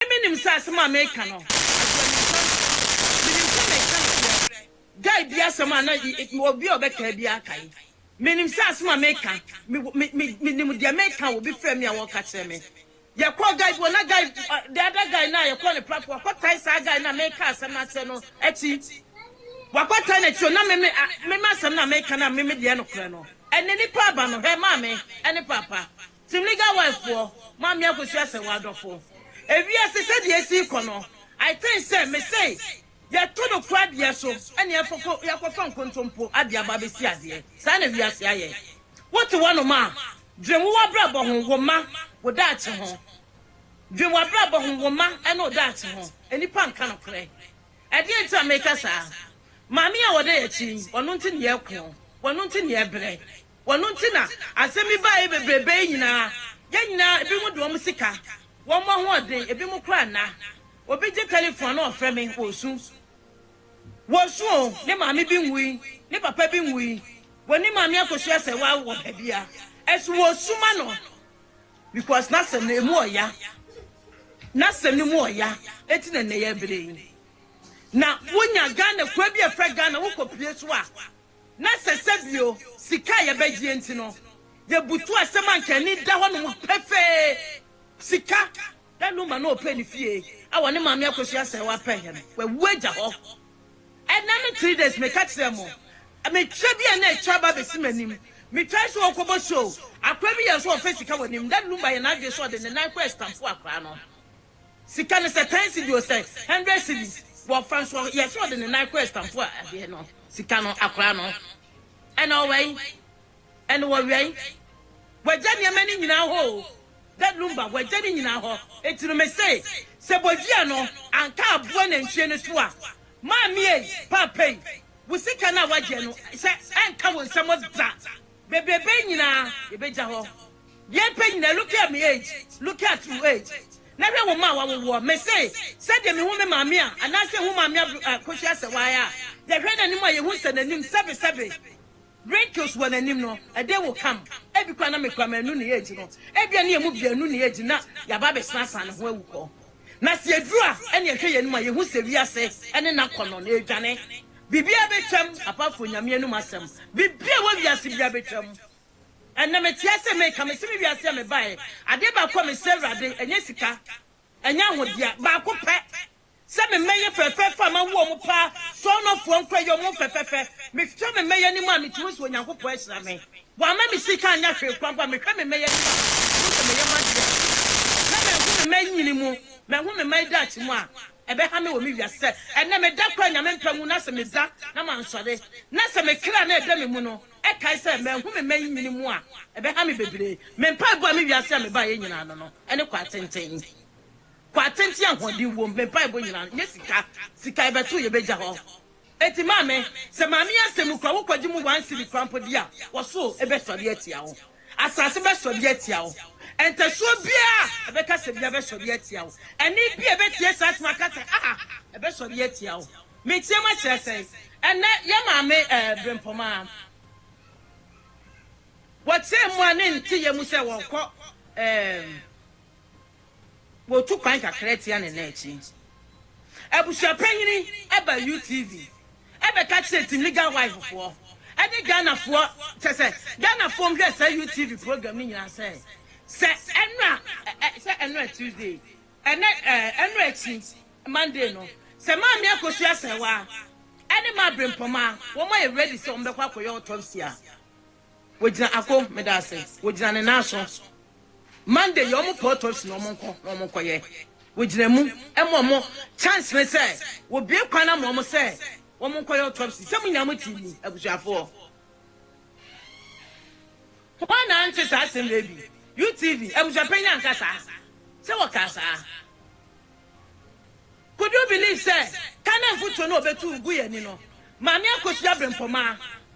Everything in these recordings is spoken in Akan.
Emi nim sɛ asɛm a mereka no, ɛso anyimpa nso. Minim sɛ mereka nokorɛ. Guy biara asɛm a na obi a ɔbɛkae biara kae. Menim sɛ asɛm a mereka, me, me, me, menim deɛ mereka a obi frɛɛ me a wɔreka kyerɛ me. Yɛkɔɔ guy bi hɔ, na guy, the other guy no a yɛkɔɔ ne platform, wakɔtae saa guy no a mereka asɛm no akyerɛ no akyi. Wakɔtae n'akyi o, na me, me, me, me asɛm no a mereka no a me, me deɛ nokorɛ no. Ɛnɛ nipa aba no, hɛ, maame, ɛne paapa. Timliga wife foɔ maame akosua sɛ wo adɔfo ewiase sɛdeɛ esi kɔ no I think sɛ me say yɛto no kura deɛ so ɛna yɛfa ko yɛakɔ fa nkontompo adeɛ aba abɛsi adeɛ saa na wiase ayɛ wote hɔ nom a dwen wo wabrabɔ ho wo mma wo daakye ho dwen wabrabɔ ho wo mma ɛne wo daakye ho nnipa nka nokorɛ ɛdeɛ nti na meka saa maame a ɔda yɛakyi yi ɔno nti na yɛko ɔno nti na yɛbrɛ Wɔno nti na asɛm yi baeɛ bebrebe yi nyinaa. Yɛn nyinaa, ebinom de wɔn sika, wɔn ahoɔden, ebinom koraa nna. Obi gye telefon a na ɔfrɛ me, wɔresu. Wɔresu o, ne maame bi nwui, ne papa bi nwui, wɔn ne maame akɔsu asɛ wɔ wɔ baabi a. Ɛso wɔresu ma no because n'asɛm no emu ɔya. N'asɛm no mu ɔya, enti na nnɛ yɛbrɛ yi. Na wonya Ghana, kuro bi a yɛfrɛ Ghana, wokɔpue so a, na sɛ sɛbio sika a yɛbɛgyeɛ nti no, yɛbutu asɛm a nka ani da hɔnom pefee, sika. Da no ma na ɔpɛ ne fie a ɔne Maame Akosua sɛ wapɛ he no, wawu agya hɔ. Ɛnɛ no three days meka kyerɛɛ mo, mekyerɛ bi a na atwa aba abɛsi m'anim, metwae sɛ ɔɔkɔbɔ show, akora bi yɛɛ sɛ ɔɔfɛ sika wɔ anim, da no ma yɛ n'adwene sɛ ɔde ne nan kɔ ɛstamfo akora no. Sika no sɛ ten cedi o sɛ hundred cedi wɔ fa nso yɛ sɛ ɔde ne nan kɔ ɛstanfo a adeɛ no sika no akora no ɛna ɔwɛn ɛna wɔwɛn wagya nneɛma no nyinaa hɔ o dɛ lumba wagya no nyinaa hɔ eti no me se sɛ bodua no anka aboa nantwie no so a maame ei paapa ei wo sika no a wagyeɛ no sɛ ɛnka wo nsam da. Bebrebe nyinaa yɛbɛgya hɔ. Deɛ mpɛ nyinaa looking at me age, looking at u age na hwɛ wo mma a wawo woɔ mese sɛdeɛ mehu me maame a anaasɛ hu maame abro a kosua asɛwae a yɛhwɛ nanim a yɛhu sɛ nanim sɛbe sɛbe wrinkles wɔ nanim no ɛdɛn wo kam ebi koraa na mekura manu ne age no ebia ne yɛmu biaa nu ne age na yɛaba abɛsena asan ne ho awu kɔ Na sɛ yɛduru a, ɛnna yɛhwɛ yɛn anim a, yɛhu sɛ wiase ne n'akɔnnɔ no redwane. Biribiara bɛtwam, apart from Nyame anom asɛm. Biribiara a ɛwɔ wiase biara bɛtwam. Ɛnnɛ mete ase meka, mese me wiase a mebaeɛ, adeɛ baako a mesrɛ Awurade, ɛnyɛ sika, ɛnyɛ ahodeɛ, baako pɛ, sɛ me mmɛyɛ fɛfɛɛfɛ a mawo wɔn paa, sɔɔnɔfoɔ nkoa, yɛ wɔn fɛfɛfɛ. Mehwɛ me mmɛyɛ anim a, metumi sɛ Onyankopɔn ahyira me. Wamma me sika anyɛ hwee koraa mpo a, mehwɛ me mma yi anim a, mehu sɛ meyɛ m'adeɛ a, na manhu me mma nnyini mu, manhu me mma daakye mu a, ɛbɛha me wɔ me wiase sɛ ɛnnɛ meda koraa a Nyame mpa nwu na sɛ meda na mansɔre na sɛ me kra no a ɛda me mu no ɛkae sɛ manhu me mma yi nyini mu a, ɛbɛha me bebree. Me mpaebɔ a me wiase a mebaeɛ nyinaa no no ne kwaatenten. Kwaatenten a ahoɔden wom, me mpaebɔ nyinaa no nyɛ sika, sika yɛbɛto yɛbɛgya hɔ. Enti maame, sɛ maame yi asɛm kura wo kɔgye mu one cedi koraa mpo di a, ɔsoro bɛsɔre atia wo. Asase bɛsɔre atia wo. Ntasuo biara a ɛbɛkasa biara bɛsɔre atia wo. Ɛnne biara a ɛbɛtie saa asɛm akasa a, ɛbɛsɔre atia wo. Meteam akyerɛ sɛn? Ɛnnɛ, yɛn maame ɛɛ Brempɔmaa, wɔteam a ne nteyɛ mu sɛ wɔrekɔ ɛɛ. Wɔtu kwan kakra tia ne nan akyi. Abusua panyini ba UTV bɛka kyerɛ Timiga wife foɔ ne Ghana foɔ kyɛ sɛ Ghana foɔ hwɛ saa UTV program no nyinaa sɛ sɛ ɛnora sɛ ɛnora Tuesday ɛnɛ ɛnora akyi Monday no sɛ maame akosua sɛwa ɛne ma abrempɔma wɔn ayɛ ready sɛ wɔn bɛkɔ akɔyɛ autopsy a Wɔgyina Ako, meda ase. Wɔgyina ne nan aso. Monday yɛ wɔn pɛ autopsy na wɔn nkɔ na wɔn nkɔ yɛ. Wɔgyina mu ma wɔn chance ne sɛ wɔbue kwan na ma wɔn sɛ wɔn nkɔ yɛ autopsy. Sɛ mo nyinaa mo te mu abusuafoɔ, hwan na ante saa asɛm wei bi? UTV abusuapanyin anka saa sɛ wɔkaa saa? Could you believe sɛ Kane mfotuo no a wɔbɛtu guu yɛn ani no, Maame Akosua Brempɔmaa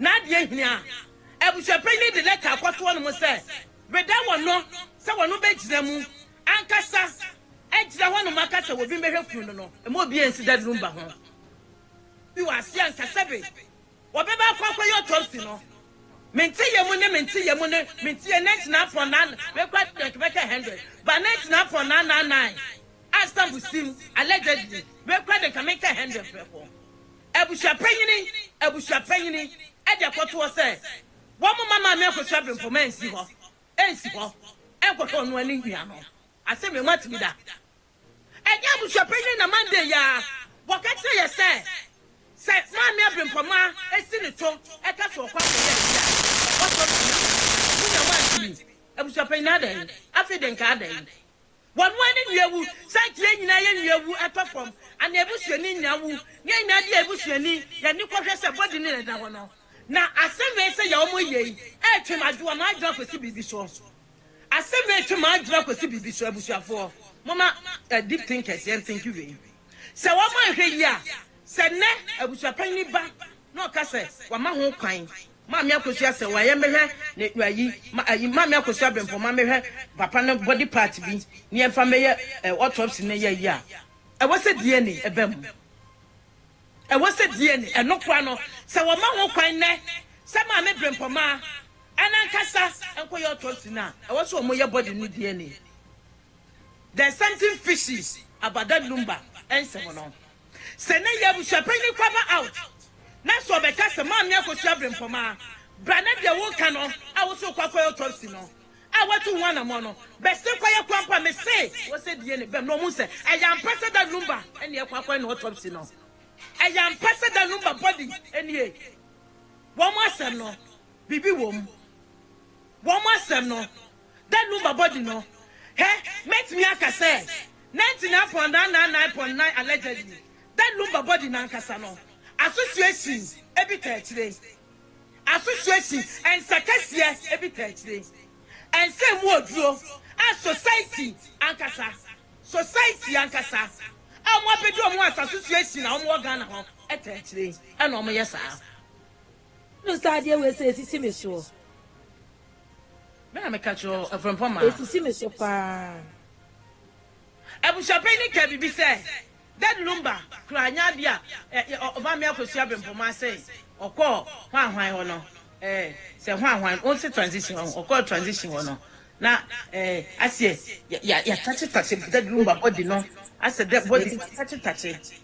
N'adeɛ hini a, abusuapanyin no de lɛta akɔtoɔ no mu sɛ, Reda wɔn no sɛ wɔnom bɛgyina mu ankasa agyina hɔ nom aka sɛ wɔbi mbɛhwɛ kunu no no. Mma obi ansi dade no mba ho. Bi wɔ aseɛ nka sɛbe wɔbɛba akɔ akɔyɛ autopsy no. Mente yɛ mu ne mente yɛ mu ne mente yɛ na gyina apɔn na mekɔ adeɛ nka bɛka hundred ba na gyina apɔn na na nine a stamp sim allegedly mekɔ adeɛ nka meka hundred prɛko. Abusua panyini abusua panyini de kɔto hɔ sɛ wɔmma Maame Akosua Abenfoma nsi hɔ nsi hɔ nkɔhwɛ ɔno a ne nua no. Asɛm yi moate bi da? Ɛnyɛ abusua panyini na Monday yi ara wɔka kyerɛ yɛ sɛ sɛ Maame Abenfoma si ne to ka sɛ ɔkɔ akɔyɛ ayi a wɔsɔ no hwɛ na wɔn nua wantumi. Abusua panyini adɛn? Afei de nka adɛn? Wɔn mmoa ne nnua wu, sankye nyinaa yɛ nnua wu, ɛtɔ fam, anaa abusuani nyinaa wu, ne nyinaa de a abusuani yɛ ani kɔhwɛ sɛ body no na ɛda hɔ no. Na asɛm wei sɛ yɛ wɔn yei retwe m'adwe wɔn adwene akɔsi biribi so. Asɛm wei retwe m'adwene akɔsi biribi so, abusuafoɔ. Momma ɛ, deep thinkers, yɛn thinki wei. Sɛ wɔanhwɛ yie a, sɛ nnɛ abusuapanyin ba na ɔka sɛ wɔama ho kwan Maame akosua sɛ wa yɛ me hwɛ ne wa yi ma ayi maame akosua bempɔ ma me hwɛ papa no body part bi ne yɛn fa mɛ yɛ eh autopsy ne yɛ yi a ɛwɔ sɛ DNA ɛbɛ mu ɛwɔ sɛ DNA ɛno kora no sɛ wɔ ma ho kwan nɛ sɛ maame brempɔ ma ɛna nkasa ɛnkɔ yɛ autopsy no a ɛwɔ sɛ ɔmo yɛ body no DNA there's something fishy about that lumba ɛnsɛm no. Sɛ ne yɛ abusuapanyin kwaba out na sɛ ɔbɛka sɛ Maame Akosua Brempɔma bra na deɛ woka no a wose wokɔ akɔyɛ autopsy no a watu ho anamɔn no bɛse kɔ yɛ koa mpo a mese wɔsɛ DNA bɛm na ɔhu sɛ ɛyɛ ampa sɛ Dan Lumba ne ɛkɔ akɔyɛ no autopsy no ɛyɛ ampa sɛ Dan Lumba body nie wɔn asɛm no biribi wom wɔn asɛm no Dɛ no mbabɔdze no, hɛ, mɛtumi aka sɛ, nɛntse na apɔn na na na epɔn na allegedly, dɛ no mbabɔdze nankasa no, association bi ta akyire. Association, nsa kɛseɛ bi ta akyire. Ɛnsɛ mu oduro, a society ankasa, society ankasa, a wɔn abɛdi wɔn as association a wɔn wɔ Ghana hɔ ta akyire na wɔn yɛ saa. Wohu saa adeɛ wei sɛ ɛsisi me soɔ? Me na meka kyerɛ wo, Afrempɔn Maa. Ɛsisi me so pa ara. Abusuapanyin no kaa biribi sɛ, Dad Lumba kura nya bi a Ɔbamea Akosua Abrempɔmaa sɛ ɔkɔɔ hwanhwan hɔ no, eh, sɛ hwanhwan, wonse transition hɔ, ɔkɔɔ transition hɔ no, na eh, aseɛ, yɛatakyetakyɛ Dad Lumba body no, asɛ dɛ body no atakyetakyɛ.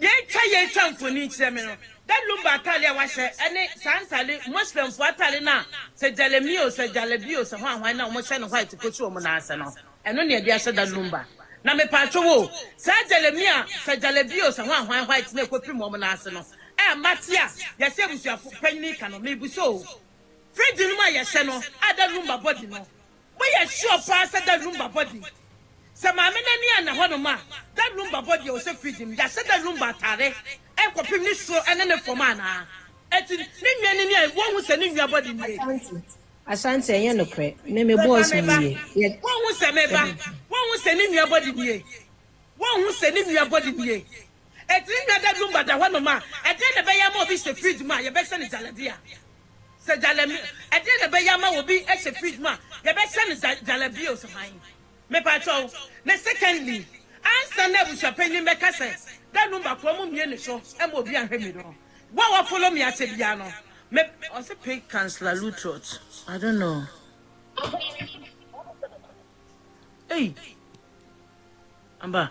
Yɛretwa yɛretwa mfoni kyerɛ me no, da Lumba atade a wahyɛ ne saa ntade Muslimfoɔ atade no a sɛ jalemi o, sɛ jalabi o, sɛ hwan hwan no a wɔhyɛ no white kɔsi wɔn nan ase no, ɛno na yɛde ahyɛ da Lumba. Na mepaatwo wo o, saa jalemi a sɛ jalabi o, sɛ hwan hwan white no a ɛkɔpim wɔn nan ase no, a mate a yɛse abusuafo panyin ka no, mebisa o, fridge no mu a yɛhyɛ no a da Lumba body no, Moyɛ sure paa sɛ da rumba bɔ de? Sɛ maame no ani anna hɔnom a, da rumba bɔ deɛ ɔsɛ fridge no, yɛahyɛ da rumba atare rekɔpem ne soro ne ne fam anaa? Enti ne nnwan no ni a wonhu sɛ ne nnwa bɔ de nie? Ashanti, Ashanti, ɛnyɛ nokorɛ, me me boss ho Meba, meba. yie, yɛ. Wonhu sɛ meba, wonhu sɛ ne nnwa bɔ de nie? Wonhu sɛ ne nnwa bɔ de nie? Etiri nwa da dumba da hɔnom a, ɛdeɛn na ɛbɛyɛ ama obi hyɛ fridge mu a yɛbɛhyɛ no gyalabia? Sɛ gyalami, ɛdeɛn na ɛbɛyɛ ama obi hyɛ fridge mu a yɛbɛhyɛ no gya, gyalabia o? So hann? Mepaakyɛw. Na secondly, ansa na abusuapanyin bɛka sɛ, Da numba koro mo mmie ne so ma obi anhwɛ mi no, wo a wafolo me akyɛ biara no, me. Ɔse pink councilor lutrot I don't know ei aba.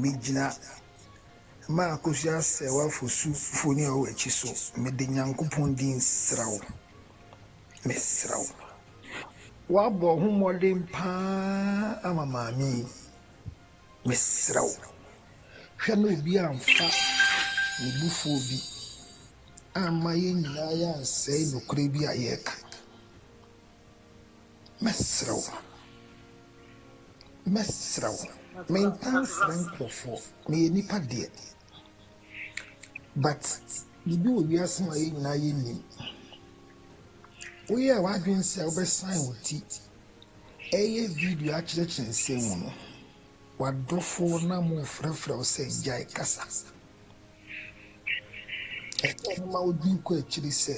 Megyina mma akosua sɛ w'afosu mfoni a ɔwɔ akyi so. Mede Nyankopɔn din srɛ wo, mesrɛ wo. Woabɔ ho mmɔden paa ama maame yi, mesrɛ wo, hwɛ na obi amfa ne bufuo bi amma yɛn nyinaa yɛansɛe nokorɛ bi a yɛreka. Mɛsrɛ wo. Mɛsrɛ wo. Mentaa nsrɛ nkurɔfoɔ. Meyɛ nipa deɛ. But biribi wɔ wiase mu a yɛn nyinaa yɛnnim. Woyɛɛ w'adwene sɛ wobɛsan wo ti ɛyɛ video akyerɛkyerɛ nsɛm mu no, w'adɔfoɔ no ama wɔfrɛfrɛ wo sɛ gyae kasa. Ɛyɛ a mema wodwen kɔ akyiri sɛ.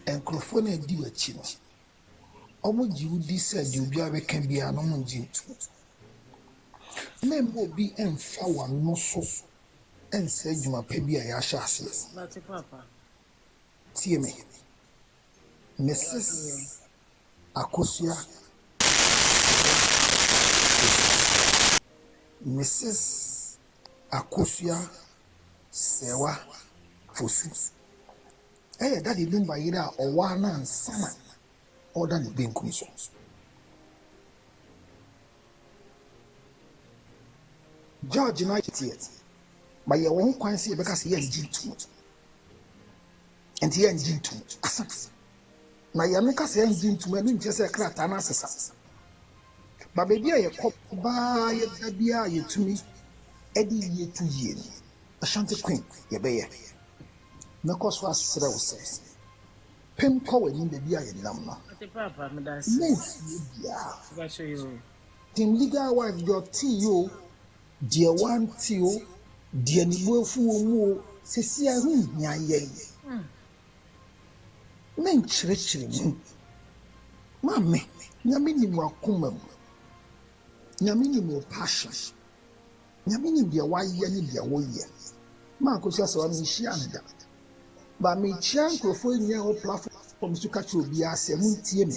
Nkurɔfoɔ no a wɔdi w'akyi no, wɔgye wo di sɛ deɛ obiara bɛka biara no, wɔngye ntom. Mɛmma obi mmfa w'ano so nnsɛe adwuma pa bi a yɛahyɛ aseɛ no. Tie me, Misis Akosua Asaseah Misis. Akosua Serwa Fosu yɛ Daddy Dumba yere a ɔwaa no ansa na ɔreda ne benkum so. George no ayɛ teɛ ma yɛ wɔn kwan sɛ yɛbɛka sɛ yɛngye ntom nti yɛngye ntom asɛm Na yɛn no kasa yɛn dze ntuma no nkyɛ sɛ krataa no asesa. Ba baabi a yɛkɔ baa yɛda biara yɛtumi de yie to yie no, Ashanti Queen yɛbɛyɛ. Mɛkɔ so asrɛ wo sɛ, pem kɔ w'anim baabi a yɛnam no. Ɔte paapa meda ase o. Mɛnsie biara. Ɔbɛhwɛ yɛ o. Team legal wife deɛ ɔte yi o, deɛ wante o, deɛ ne bo afu wɔ mu o, sesia ɛho nhia yɛn. ne nkyerɛkyerɛ mu. Maame, Nyame nim w'akoma mu. Nyame nim wo passion. Nyame nim deɛ wayɛ ne deɛ woyɛ. Mankosi Asawa menhyia no da. Ba mekyia nkurɔfoɔ nyinaa wɔ platform so ka kyerɛ obiara sɛ montie me.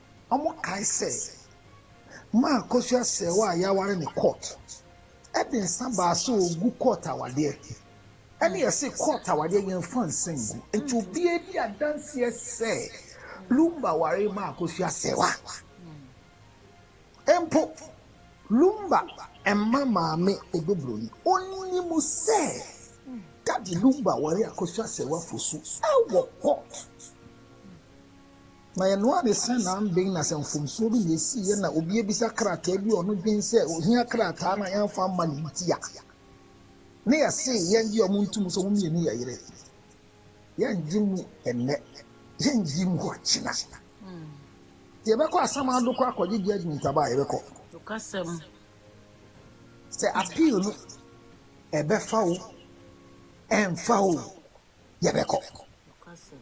Wɔkae sɛ ma kosua sɛɛ wo a yɛaware ne court de nsa baa sɛ ɔgu court awadeɛ ɛne yɛse court awadeɛ yɛmfa nsa ngu nti obiara di adanseɛ sɛ lumba ware ma kosua sɛɛ wa mpo lumba ɛma maame ɛdobroni ɔnim sɛ dade lumba ware akosua sɛɛ wa fosu ɛwɔ court Na ɛno ara ne sɛnnanben na sɛ mfomsoɔ bi na ɛsiiɛ na obi abisa krataa bi a ɔno dwen sɛ ɔhia krataa no a yɛmfa mma no nti a, ne yɛse yɛngye ɔmo nto mu sɛ ɔmo mmienu yɛ yere. Yɛngye mu ɛnnɛ, yɛngye mu ɔkyena. Hmm. Sɛ yɛbɛkɔ Asamado kɔ akɔgye judgment aba a yɛbɛkɔ. Nokasɛm. Sɛ appeal no ɛbɛfa o, ɛmfa o, yɛbɛkɔ. Nokasɛm.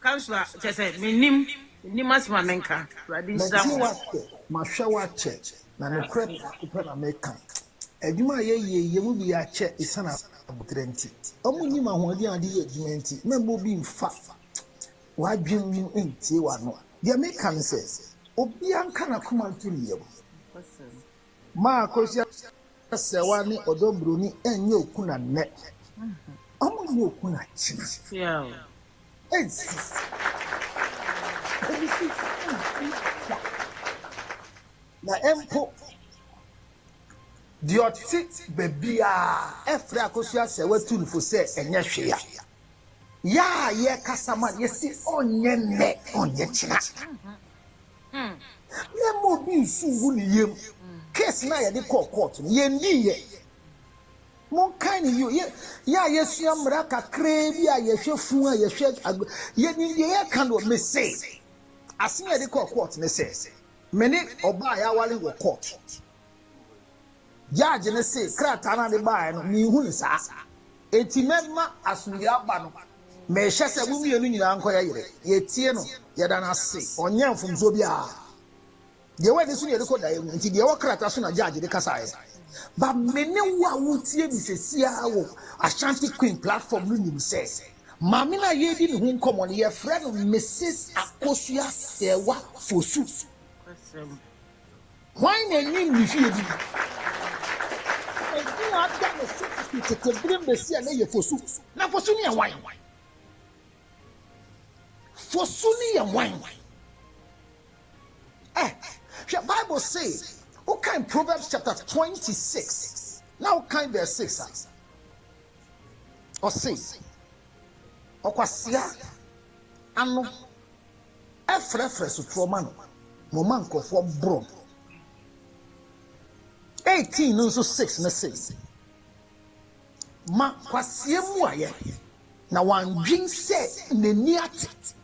Council a kyerɛ sɛ mennim, mennim asɛm a menka. Awurade nhyira mo. Mɛte wo ase, mahwɛ wo akyɛ, na nokorɛ baako pɛ na meka, adwuma a yɛyɛɛ yi, yɛn mu bi yɛ akyɛ ɛsiane aboterɛ nti, wɔn nnim ahoɔden a wɔde yɛ adwuma nti, mɛmma obi mfa w'adwene mu ntie w'ano. Deɛ meka ne sɛ, obiara nka n'akoma nto ne yam. Nokwasɛm. Maa Kwesi Asewa ne Ɔdɔ Broni ɛnyɛ okuna nnɛ, ɔmo na yɛ okuna kyena. Ei sisi. Ebi si nsi da. Na mpo deɛ ɔte bɛbiaa ɛfrɛ Akosi Asewa tu no fo sɛ ɛnyɛ hwee a. Yɛ a yɛkasa ma no yɛsi ɔnyɛ nnɛ ɔnyɛ kyena. Yɛmma obi nsu ngu ne yam. Case no a yɛde kɔɔ court no, yɛndiiɛ. Monkae no yie. Yɛ, yɛ a yɛasua mmara kakraa bi a yɛhwɛ fun a yɛhwɛ ag, yɛnim deɛ yɛka no. Mese, asɛm a yɛde kɔɔ court ne sɛ, me ne ɔbaa a yɛaware wɔ court. Judge no see krataa no a ɔde baeɛ no, menhu no saa. Enti mɛma asomdwoeɛ aba no, merehyɛ sɛ mo mmienu nyinaa nkɔyɛ yere. Yɛtie no, yɛda no ase, ɔnyɛɛ mfomsoɔ biara. Deɛ ɛwɔ ani so na yɛde kɔ daeɛ mu, enti deɛ ɛwɔ krataa so na Judge de kasaeɛ. Ba me ne wo a woretie me seesei ara wɔ Ashanti Queen platform no nim sɛ maame no a yɛredi ne ho nkɔmmɔ no, yɛfrɛ no Mrs. Akosua Serwah Fosu. Hwan na ɔnim ne fie din? Edin a ada ne so fi tete bere mu besi ɛnnɛ yɛ Fosu. Na Fosu no yɛ hwan? Fosu no yɛ hwan? Ɛ, hwɛ Bible se, wokan Proverbs chapter twenty six, na wokan verse six a, ɔse, Ɔkwasea ano Frɛfrɛ sotorɔ ma no, na ɔma nkurɔfoɔ borɔ no. 18 no nso 6 no se, Ma kwasea mmuaeɛ, na wandwen sɛ n'ani ate.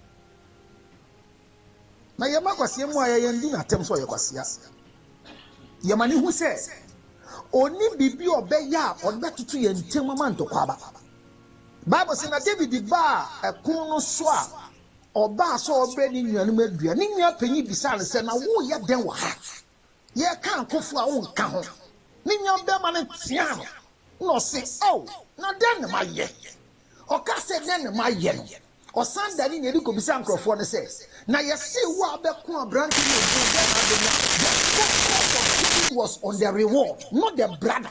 Na yɛma kwasea mmuaeɛ, yɛndi no atɛm sɛ ɔyɛ kwasea. Yɛma no hu sɛ ɔnni biribi a ɔbɛyɛ a ɔde bɛtoto yɛn ntam ama ntɔkwa aba. Bible se, Na Dawid baa ɛpono no so a ɔbaa sɛ ɔrebrɛ ne nuanom aduan. Ne nua panyin bisaa no sɛ, Na woreyɛ dɛn wɔ ha? Yɛreka akofo a wonka ho. Ne nuabarima no teaa no, na ɔse, Ao, na dɛn na mayɛ? Ɔkaa sɛ, Dɛn na mayɛ no? Ɔsan dan ne nea edi kobisaa nkurɔfoɔ no sɛ, Na yɛsee wo a wobɛko aberante no odwo, dɛn na abɛnya? The focus of giving was on the reward, not the brother.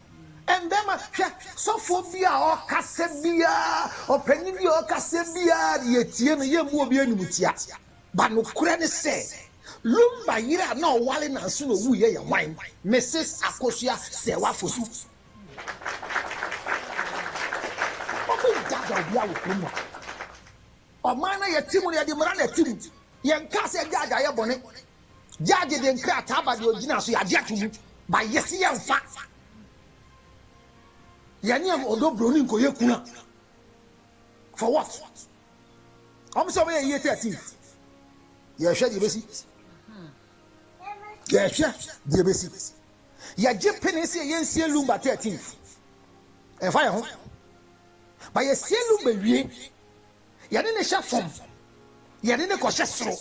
Ɛnde ma hwɛ, sɔfoɔ bi a ɔrekasa biara, ɔpanin bi a ɔrekasa biara de yɛtie no, yɛmmu obi animtia. Ba nokorɛ ne sɛ, Lumba yere a na ɔware nnansa na ɔwuiɛ yɛ hwan? Mrs. Akosua Serwaa Fosu. Wɔbɛdaadaa obiara wɔ kurom hɔ. Ɔman no a yɛte mu no, yɛde mmara na ɛte mu. Yɛnkaa sɛ adwaadwaeɛ yɛ bɔne. Gyaa gye deɛ nkrataa ba deɛ ɔgyina so yɛagye ato mu ba yɛse yɛmfa yɛne ɔdɔ broni nkɔyɛ kuna for what ɔm sɛ ɔbɛyɛ yie 13 yɛhwɛ deɛ bɛsi yɛhwɛ deɛ bɛsi yɛgye pene sɛ yɛyɛ nsie lumba 13 ɛmfa yɛ ho ba yɛsie lumba wie yɛne ne hyɛ fam yɛne ne kɔhyɛ soro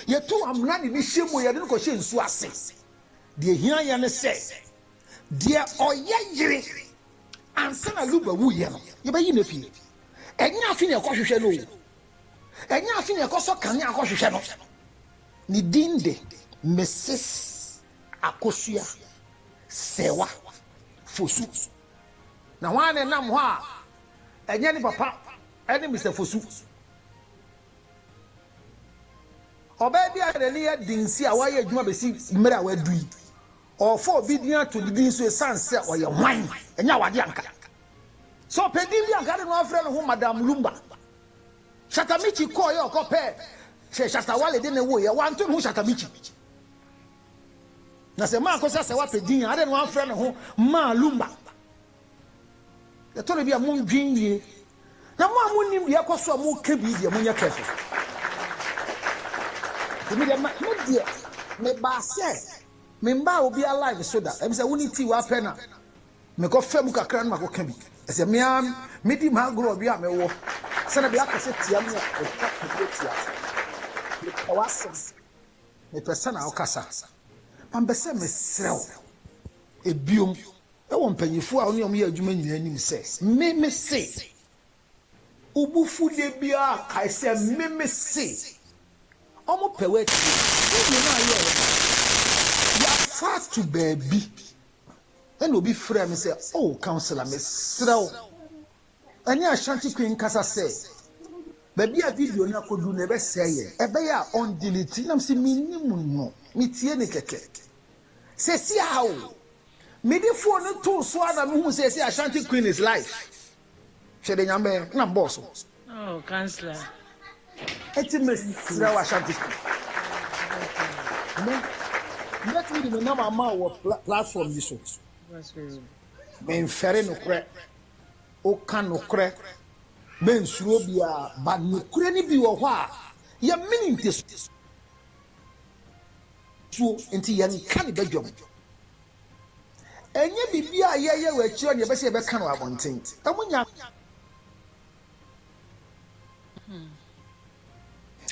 Yɛtu amena de no hyɛ mu, yɛde no kɔhyɛ nsuo ase. Deɛ ɛhia yɛn ne sɛ, deɛ ɔyɛ yere ansa na Luba wuiɛ no, yɛbɛyi no afie. Ɛnyɛ afe na yɛkɔhwehwɛ no o, ɛnyɛ afe na yɛkɔsɔ kanea kɔhwehwɛ no. Ne din de Mrs. Akosua Sewa Fosu. Na hwan na ɛnam hɔ a ɛnyɛ ne papa ne Mister Fosu? Ɔbaa bi a n'ani yɛ den si a wayɛ adwuma besi mmere a wadu yi, ɔrefa obi din ato ne din so esiane sɛ ɔyɛ hwan? Ɛnyɛ awade anka. Sɛ ɔpɛ din bi a anka ade no afrɛ ne ho Madam Lumba. Shatta Michi kɔɔ yɛ ɔkɔ pɛɛ sɛ Shatta Wale de ne wo yɛ, wanto ne ho Shatta Michi. Na sɛ Maa kɔsi Asawa pɛ din a, ade no afrɛ ne ho Maa Lumba. Ɛtɔ da bi a mundwen yie. Na mo a monnim deɛ ɛkɔ so a moka bi deɛ, monyɛ careful. Nti me deɛ, me deɛ, mebaa sɛ memmba obiara live so da. Ebisa wo ne tea w'apɛ no a, mekɔfa mu kakra na makɔka bi. Ɛsɛ me ara medi m'agorɔ ɔdwe a mewɔ sɛ da bi aka sɛ tia me a, ɛtwa ka bi atia so. Mepɛ w'asɛm. Mepɛ sɛnea wokasa. Mampɛ sɛ mesrɛ wo biom. Wɔ mpanyimfo a wo ne wɔn yɛ adwuma nyinaa anim sɛ, Me mise. Wo bo fu da biara a, kae sɛ, Me mise. Wɔpɛ woatie. Wonwie na ayɛ wɔn a, yɛafa ato baabi. Ɛnna obi frɛɛ me sɛ, 'O, Counselor, mesrɛ wo. Ɛne Ashanti Queen nkasa sɛ baabi a video no akɔduru no ɛbɛsɛe yɛn, ɛbɛyɛ a ɔndelete nam sɛ mennim no, metie no kɛkɛ. Seesei a o! Mede phone no too so ara na mehuu sɛ ɛse Ashanti Queen is live. Hwɛ deɛ Nyame bɛyɛ, na mbɔɔ so. Oh, councillor. Enti mesrɛ wo Ashanti Queen. Mɛtumi de me nam ama wɔ platform yi so. Memfɛre nokorɛ. Woka nokorɛ, mensuro obiara, but nokorɛ no bi wɔ hɔ a, yɛmene ntesuo nti yɛnka no badwam. Ɛnyɛ biribi a yɛyɛ wɔ akyire hɔ na yɛbɛsɛ yɛbɛka no wɔ abɔnten. Ɛmu nya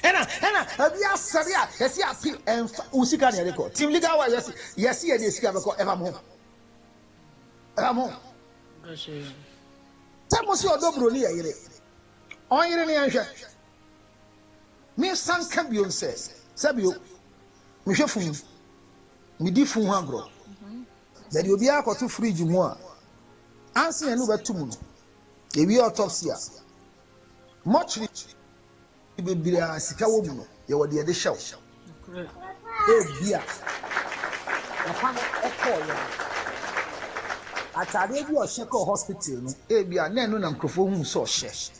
ɛna ɛna ɛbi asɛ bi a yɛsi api ɛnfa wo sika na yɛde kɔ team legal wa yɛsi yɛsi yɛde sika bɛkɔ ɛfa mo ho. Ɛha mo. Sɛ mo si ɔdɔ buroni yɛ yere. Ɔnyere ne yɛnhwɛ. Me san ka bio nsɛ. Sɛ bio. Me hwɛ fun. Me di fun ho agorɔ. Yɛ de obiara kɔto fridge mu a. Ansi yɛn ne wobɛto mu no. Yɛ wie autopsy a. Mortuary. bebree a sika wɔ mu no, yɛwɔ deɛ yɛde hyɛ wo. Ebia papa no kɔɔ yɛ ataadeɛ bi a ɔhyɛ kɔɔ hospital no, ebia na ɛno na nkurɔfoɔ hu sɛ ɔhyɛ.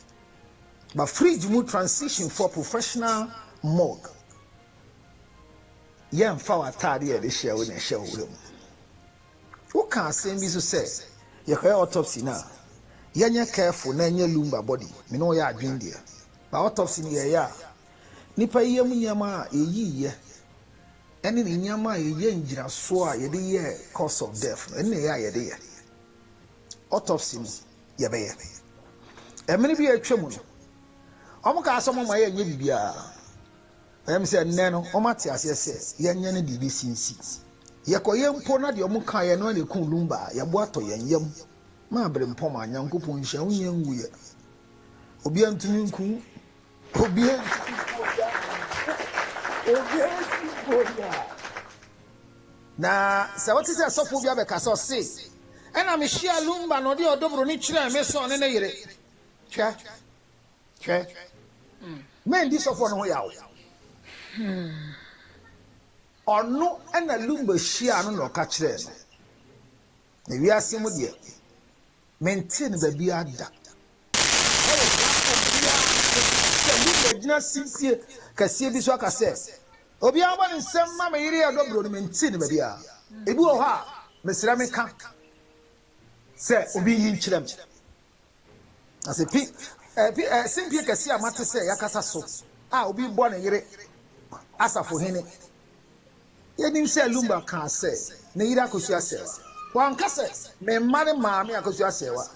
Ba fridge mu transition for professional mode. Yɛmfa w'ataadeɛ a yɛde hyɛ wo na ɛhyɛ wo wura mu. Woka asɛm bi so sɛ yɛkɔyɛ autopsy no a yɛnyɛ careful na ɛnyɛ lumbar body me ne wo yɛ adwen deɛ but autopsy no yɛyɛ a nipa yam nneɛma a yɛyii yɛ ɛne ne nneɛma a yɛyɛ ngyinasoɔ a yɛde yɛ cause of death no ɛne na ɛyɛ a yɛde yɛ autopsy no yɛbɛyɛ ɛmene bi a atwa mu no wɔn kaa sɛ wɔn ama yɛ nyɛ biribiara. Ɛyɛ me sɛ nnɛ no wɔate aseɛ sɛ yɛnyɛ ne deɛ ɛbɛsi nsi. Yɛkɔyɛ mpo na deɛ wɔkaeɛ no ara na ɛkum Lumba a, yɛn bo atɔ yɛn yam ma aberempɔn a. Nyankopɔn nhyira wo nyɛ nwuiɛ. Obiara ntumi nku wo. Obiara ntumi nku wo da. Obiara ntumi nku wo da. Na sɛ wote sɛ sɔfoɔ bi abɛka sɛ ɔse, Ɛna mehyiaa Lumba na ɔde ɔdɔ buroni kyerɛɛ me sɛ ɔne ne yere. Hwɛ. Hwɛ. Mɛndi sɔfoɔ no ho yaw. Ɔno na Lumba hyiaa no na ɔka kyerɛɛ no. Na wiase mu deɛ, mentee no baabiara da. Ɛwɔ platform biara so sɛ Lumba gyina sibsie kɛseɛ bi so aka sɛ, Obiara mmɔ ne nsam mma me yere Ɛdɔ Buro no, mentee no baabiara. Ebi wɔ hɔ a, mesrɛ meka sɛ obi nyi nkyerɛ me. Na sɛ pi, eh, pi, eh, simpie kɛse a mate sɛ yakasa so a obi rebɔ ne yere asafo hene. Yɛnim sɛ Lumba kaa sɛ ne yere akɔsu asɛewa. Wanka sɛ me mma ne maame akɔsu asɛewa.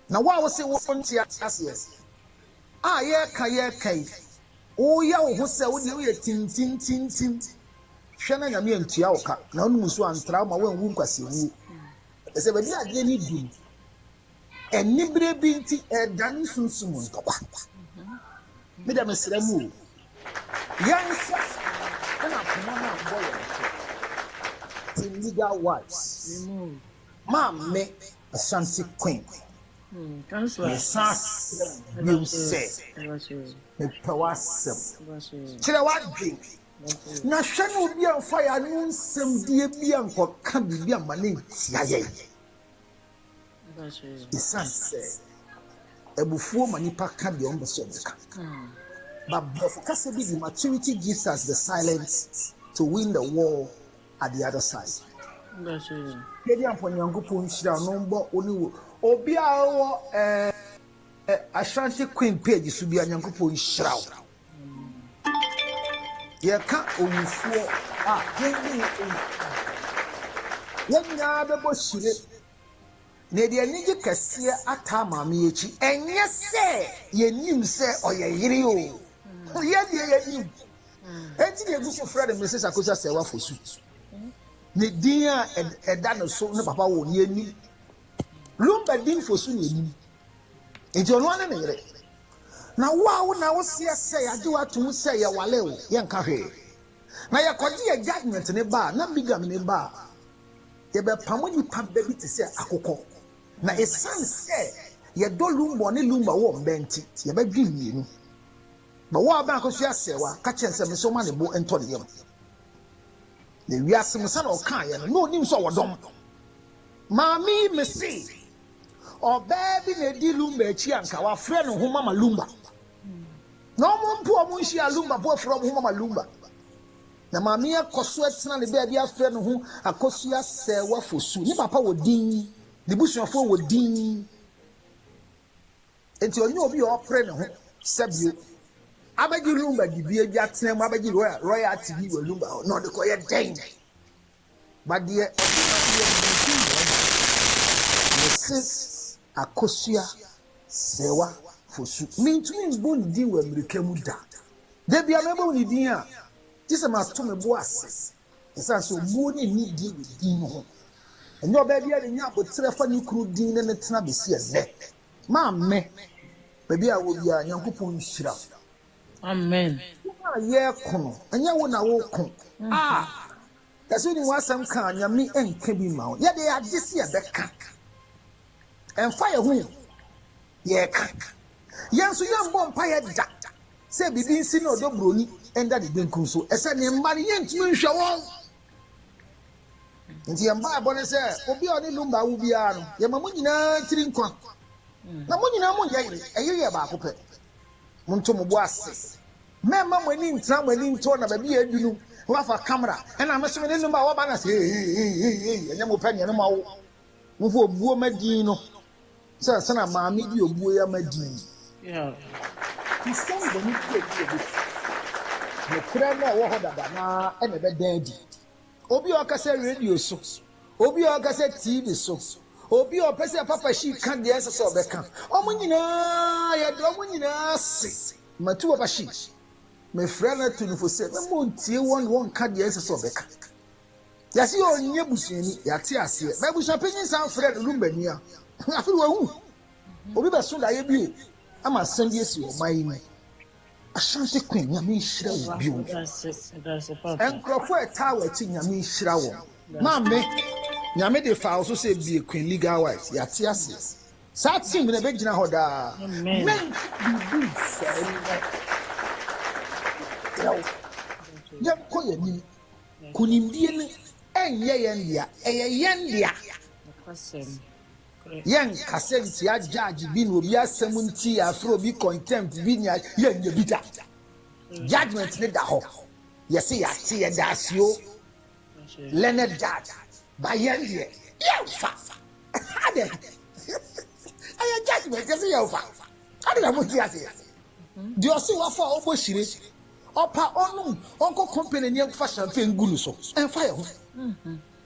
Na wo a wose wonte aseɛ a yɛreka yɛreka yi, woyɛ wo ho sɛ wodeɛ woyɛ tintintintim. Hwɛ na Nyame antua wo ka na wonom nsuo antra wo ma woanwu nkwasiawuo. Ɛsɛ baabi a adeɛ ni du no. anibere bi nti ɛredane sunsum ntɔkwa. Me dɛ mesrɛ mu o, yɛn nsa na koma no abɔ yɛn so. Team Legal Wives, Maame Ashanti Queen, mesan asrɛ mo biom sɛ, mepɛ w'asɛm. Kyerɛ w'adwene na hwɛ na obi amfa yɛn ano nsɛmdie bi ankɔka biribi amma no antia yɛn. Ɛsiane sɛ abufuo ma nipa ka deɛ ɔmpɛ sɛ ɔbɛka. But borɔfo kasa bi di maturity gives us the silence to win the war at the other side. Yɛde ampɔ Nyankopɔn nhyira no mbɔ wo ne wo obi a ɔwɔ ɛɛ eh, eh, Ashanti Queen page so bi a Nyankopɔn nhyira wo. Yɛka owufoɔ a, dwen de yɛ owu a, yɛn nyinaa bɛbɔ hyire. Na yɛde anigye kɛseɛ ataa Maame yi akyi. Ɛnyɛ sɛ yɛnnim sɛ ɔyɛ yere oo, yɛn deɛ yɛnim. Enti na yɛgu so frɛ no Misis Akosi Asɛɛwa Fosu. Ne din a ɛda ne so ne papa woo no, yɛnnim. Lumba din Fosu na yɛnim. Enti ɔno ara ne ne yere. Na wo a wo na woseɛ sɛ yɛagye wo ato mu sɛ yɛwale wo, yɛnka hwee. Na yɛkɔgye yɛn judgement no ba a, na bigamy ba a, yɛbɛpamo nipa ba bi te sɛ akokɔ. Na esiane sɛ yɛdɔ Lumbon ne Lumba wɔ mba nti, yɛbɛdwe mmienu. But wo a wobɛn Akosua Serwa, ka kyerɛ no sɛ mesɛ ɔma ne bo ntɔ ne yam. Na wiase mu sɛnea ɔkaeɛ no, na ɔnim sɛ ɔwɔ dɔm. Maame yi mese Ɔbaa bi na edi Lumba akyi a nka wafrɛ ne ho Mama Lumba. Na wɔn mpo wɔn nhyia Lumba po afrɛ wɔn ho Mama Lumba. Na maame yɛ kɔ so atena ne baabi afrɛ ne ho Akosua Sɛɛwa Fosu. Ne papa wɔ din, ne busuafoɔ wɔ din. Nti ɔnyɛ obi a ɔpere ne ho sɛ bio. Abɛgye Lumba dibea bi atena mu abɛgye royalty bi wɔ Lumba hɔ na ɔde kɔyɛ dɛn? But deɛ ɔde ma deɛ medi nyina mu mese akosua Sewa Fosu. Mentumi mbɔ ne din wɔ amirika mu da. Da bia mɛbɔ ne din a gye sɛ mato me bo ase ɛsiane sɛ obuo ne anidie wɔ din no ho. Ɛnyɛ ɔbaa biara na enya aboterɛ fa ne kunu din ne no tena besi ɛnnɛ. Maame, baabi a ɛwɔ biara Nyankopɔn nhyira wo. Amen. Wo a yɛreko no, ɛnyɛ wo na woreko. Ah! Yɛse wonim w'asɛm ka a, Nyame nka bi mma wo. Yɛde agye se yɛbɛka. Ɛmfa yɛn ho o, yɛreka. Yɛn nso yɛmmɔ mpaeɛ da sɛ biribi nsi ne ɔdɔ buroni nda ne benkum so. Ɛsɛ ne mma no yɛntumi nhwɛ wɔn. Nti yɛn mpaebɔ ne sɛ obi a ɔne Lumba awo biara no, yɛma mo nyinaa tiri nkwa. Na mo nyinaa monyɛ yere, ɛyere yɛ baako pɛ. Montɔ mo bo ase. Mɛmma mo ani ntra mo ani ntɔ na baabi a adu no moafa camera ɛna me so me ne no ma wɔba na se eeii ɛnyɛ mo pɛ nea no ma wo wo ho obuo ma din no sɛ nsa na maame di obuo ya ma din. Christian bɔne bi a ɛdi yɛ bɛsi. Nokorɛ no a ɛwɔ hɔ dada no ara na ɛbɛda adi. obi a ɔkasa radio so, obi a ɔkasa TV so, obi a ɔpɛ sɛ Papa Shi ka deɛ ɛsɛ sɛ ɔbɛka. Wɔn nyinaa, yɛde wɔn nyinaa ase. Matu Papa Shi, mefrɛ no ato no fo sɛ mɛma ɔntie wɔn na wɔnka deɛ ɛsɛ sɛ ɔbɛka. Yɛase yɛ ɔnyɛ busuani, yɛate aseɛ. M'abusua panyin san frɛ no Lumbani a, afei wawu. Obi bɛso daeɛ bio ama asɛm bi asi wɔ ɔman yi mu. Ashanti queen nyame nhyira wo bio. Nkurɔfo a ɛtaa wɔ akyi nyame nhyira wɔn. Maame nyame de faa wo so sɛ bie queen legal wise yɛate aseɛ. Saa team no ɛbɛgyina hɔ daa. Amen biribi nsɛe nnɛ. Yɛsrɛ wo yɛnkɔ yɛn anim. Kunimdie no ɛnyɛ yɛn dea ɛyɛ yɛn dea. Yɛn kasa ntia judge bi ne obi asɛm nti yɛafrɛ obi contempt bi nea yɛnyɛ bi da. Judgment ne da hɔ. Yɛse yɛate yɛda ase o learned judge ba yɛn deɛ yɛmfa. Adɛn? Ɛyɛ judgment yɛse yɛmfa. Ade na monte aseɛ. Deɛ ɔse wafa a ɔbɔ hyire ɔpa ɔnom ɔnkɔ company ni ɛnkɔfa champagne gu no so ɛmfa yɛn ho.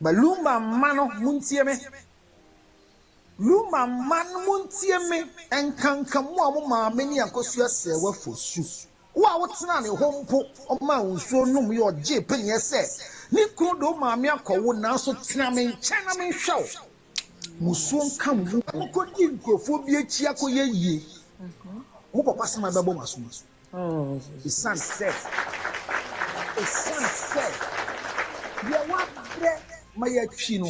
Ba Lumba mma no muntie me Lumba mma no muntie me Ɛnkanka mo a mo maame ne Akosua sɛɛ wo afosu Wo a wotenaa ne hɔ mpo ɔmaa wo nsuo nom yɛ Ɔgyee paneɛ sɛ ne kunu de wo maame akɔ wo Nanso tena me nkyɛn na menhwɛ wo Musuo nka mo mu Mokɔdi nkurɔfoɔ bi akyi akɔyɛ yie Mo papa sɛ mabɛbɔ mo aso Esiane sɛ deɛ wabrɛ ma yɛatwi no,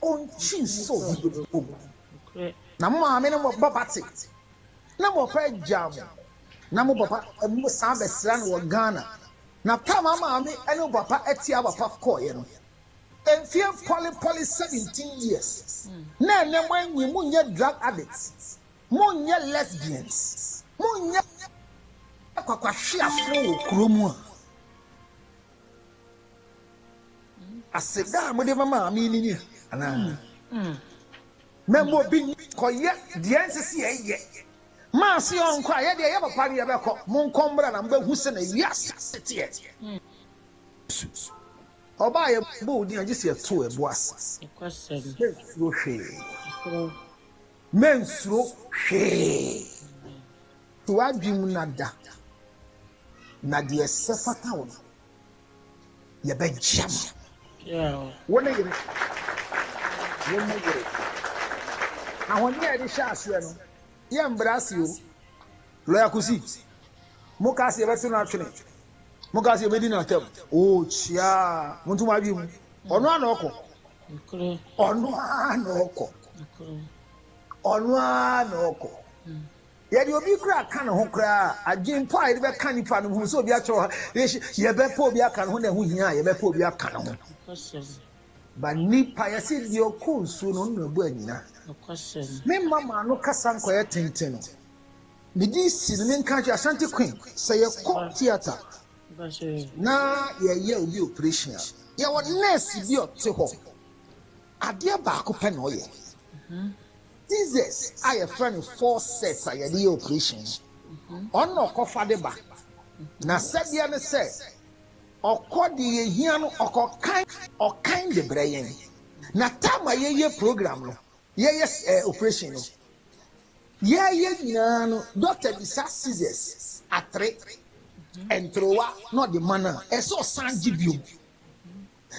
ɔntwi nso ne bepɔ mu. Na mo maame ne mo papa te, na mo papa agyaa mo, na mo papa san bɛsraa no wɔ Ghana. Na tam a maame ne mo papa tia papa kɔeɛ no, mfeɛ pɔlepɔle seventeen years, na ɛnnɛ moanyin, monyɛ drug addicts. Monyɛ lesbians, monyɛ kwakwahweafoɔ wɔ kuro mu a. Aseda a mode ma maame ni ni anaa? Mm, mm. Na mmɔ bi kɔyɛ deɛ nsɛ sɛ yɛyɛ. Maa se ɔnkɔ a yɛdeɛ yɛ papa no yɛbɛkɔ. Monkɔ mmra na mobɛhu sɛ na wiase teɛ. Ɔbaa yɛ bɔ odin a gye sɛ yɛto ɛbo ase. Yɛkɔsɛm. Yɛmfuro hwee. Yɛkorɔ. Mensuro hwee. To w'adwene mu na da, na deɛ ɛsɛ fata wo no, yɛbɛgye ama. Wo ne yere, wo ne yere. Ahoɔden a yɛde hyɛ aseɛ no, yɛ mbra ase o. Lɔya Kusi, mo kaa sɛ yɛbɛto no atwene, mo kaa sɛ yɛbɛdi no atɛm. Oo kyiaa, monto mo adwene mu. Ɔno ara na ɔkɔ. Ɔno ara na ɔkɔ. Ɔno ara na ɔkɔ. Yɛde obi kura ka ne ho koraa adwene mpo a yɛde bɛka nipa no ho sɛ obi akyerɛ hɔ yɛbɛpɛ obi aka ne ho na ɛho hia a yɛbɛpɛ obi aka ne ho ba nipa yɛsɛ deɛ ɔkɔ nsuo no ɔno ɛbɔ anyina me mma maa no kasa nkɔyɛ tenten no medi si no menka kyerɛ asante queen sɛ yɛkɔ theatre na yɛreyɛ obi oprehyɛn a, yɛwɔ nɛɛse bi a ɔte hɔ, adeɛ baako pɛ na ɔyɛ. Scissors a yɛfrɛ no forceps a yɛde yɛ oprehyɛn no, ɔno na ɔkɔfa de ba. Na sɛdeɛ ne sɛ, ɔkɔ deɛ yɛhia no, ɔkɔkan, ɔkan de brɛ yɛn. Na time a yɛyɛ program no, Yɛyɛ eh, operation no. Yɛyɛ nyinaa no, dɔkta bisa scissors, atere, nterewa na ɔde ma no a, ɛsɛ ɔsan gye biom.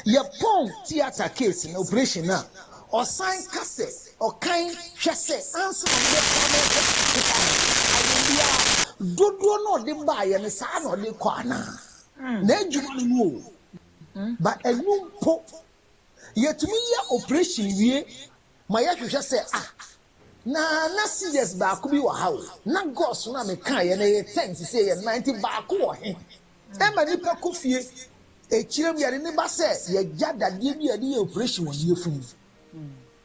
Yɛpɔn theatre case no, operation no a, ɔsan ka sɛ, ɔkan hwɛ sɛ ansa na ɔde bɛkɔ no ɛsɛ ɔkeka ho. Ayɛ biara, dodoɔ na ɔde baeɛ no, saa na ɔde kɔ anaa? N'adwuma no no o. Ba ɛnu mpo. Yɛtumi yɛ oprehyɛn wie ma yɛhwehwɛ sɛ, Ah, na na seizures baako bi wɔ ha o. Ná gauze no a mekaeɛ no ɛyɛ ten, seesei ɛyɛ nnan, nti baako wɔ he? Ɛma nipa kɔ fie. Akyire no, yɛde no ba sɛ yɛagya dadeɛ bi a yɛde yɛ oprehyɛn wɔ ne yafunu mu.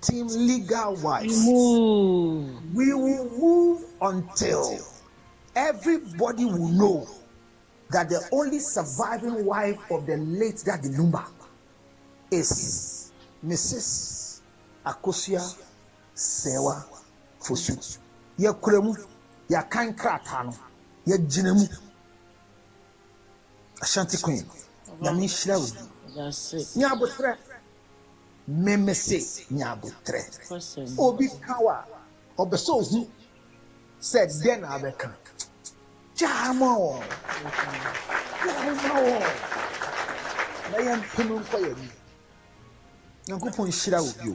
team legal wise we will move until everybody will know that the only surviving wife of the late daddy Numa is Mrs. Akosua Sewa Fosu yɛkura mu yɛakan krataa no yɛgyina mu Ashanti Queen nyame nhyira wo ne aboterɛ Me me se nya abotrɛ. Obi ka wo a, ɔpɛ sɛ ohu sɛ dɛn na abɛka. Gyaa ma wɔn. Gyaa ma wɔn. Na yɛn mpem nkɔ yɛn anim. Nyankopɔn nhyira wo bio.